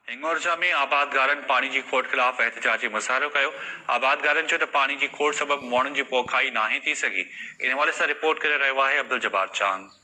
هنڱورجا ۾ آبادگارن پاڻي جي کوٽ خلاف احتجاجي مظاهرو ڪيو، آبادگارن چيو ته پاڻي جي کوٽ سبب موڻن جي پوکائي ناهي ٿي سگهي، ان حوالي سان رپورٽ ڪري رهيو آهي عبدالجبار چانگ.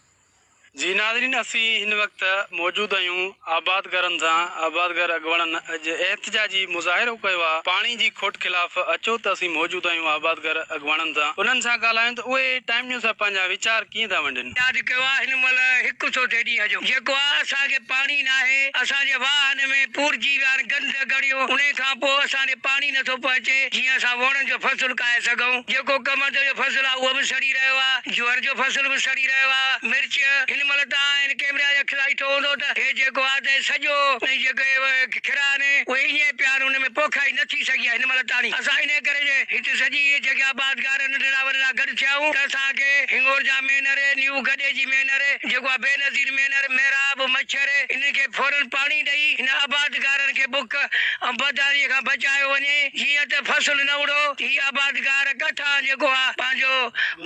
جي ناظرين اسين هن وقت موجود آهيون آبادگارن سان آبادگار اڳواڻن اڄ احتجاجي مظاهرو ڪيو آهي پاڻي جي کوٽ خلاف اچو ته اسين موجود آهيون آبادگار اڳواڻن سان انهن سان ڳالهايون ته ته اهي ٽائيم نيوز سان پنهنجا ويچار ڪيئن ٿا ونڊين. ياد ڪيو آ هن مهل هڪ سوڍي ڏينهن جو جيڪو آ اسان کي پاڻي ناهي اسان جي واهن ۾ پورجي ويا آهن گند گڙيون انهي کان پوء اسان ڏي پاڻي نٿو پهچي جيئن اسان ووڻن جو فصل ڪاهي سگهون جيڪو ڪمند جو فصل آ اهو به سڙي رهيو آ جوئر جو فصل به سڙي رهيو آ مرچ هن مهل ته آ هن ڪيمرا جي اک سان ڏٺو هوندو ته هي جيڪو آ ته هي سڄو ۽ جيڪو هي ڪھڙا آھن اھي ايئن پيا آھن ان ۾ پوکائي نه ٿي سگھي آھي ھن مھل تاڻي اسان انھي ڪري جي ھتي سڄي ھيء جڳھه آباد گار ننڍڙا وڏڙا گڏ ٿيا آھون ته اسان کي ھنڱورجا مينھر، نيو گڊي جي مينھر، جيڪو آھي بينظير مينھر، محراب، مڇر انھن کي فورن پاڻي ڏئي ھن آباد گارن کي بک ۽ بدحاليء کان بچايو وڃي جيئن ته فصل نه اڙو ھي آباد گار ڪٿان جيڪو آھي پنھنجو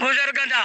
گذر ڪندا.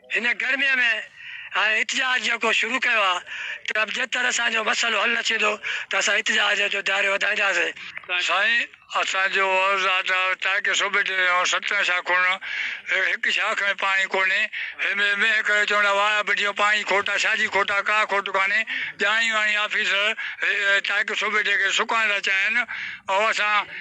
هن گرميء ۾ هاڻي احتجاج جيڪو شروع ڪيو آهي ته به جيتر اسان جو مسئلو حل نه ٿيندو ته اسان احتجاج جو دائرو وڌائينداسين. سائين اسان جو عرض آ ته تان ڪي صوبي جي ۽ سترهن شاخون ۾ هڪ شاخ ۾ پاڻي ڪونهي هيمي مينهن ڪري چون ٿا واء ٻڏيو پاڻي کوٽ آ ڇاجي کوٽ آ ڪا کوٽ ڪانهي ڄاڻي واڻي آفيسر تان ڪي صوبي جي کي سڪائڻ ٿا چاهين ۽ اسان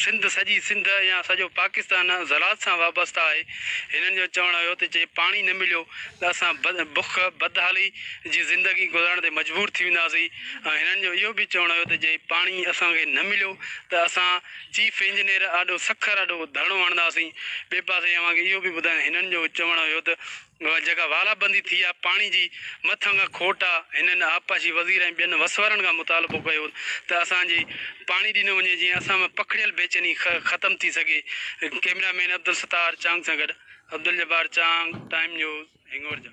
سنڌ، سڄي سنڌ يا سڄو پاڪستان زراعت سان وابسته آهي. هنن جو چوڻ هيو ته جي پاڻي نه مليو ته اسان بک، بدحالي، جي زندگي گذارڻ تي مجبور ٿي وينداسين ۽ هنن جو اهو به چوڻ هيو ته جي پاڻي اسان کي نه مليو ته اسان چيف انجنيئر آڏو سکر آڏو ڌرڻو هڻنداسين. ٻئي پاسي اوهان کي اهو به ٻڌايان هنن جو چوڻ هيو ته اها جڳهه والا بندي ٿي آ، پاڻي جي مٿان کان کوٽ آ، هنن آبپاشي وزير ۽ ٻين وسوارن کان مطالبو ڪيو ته اسان جي پاڻي ڏنو وڃي جيئن اسان ۾ پکڙيل بيچيني ختم ٿي سگهي، ڪئميرا مين عبدالستار چانگ سان گڏ عبدالجبار چانگ، ٽائيم نيوز، هنڱورجا.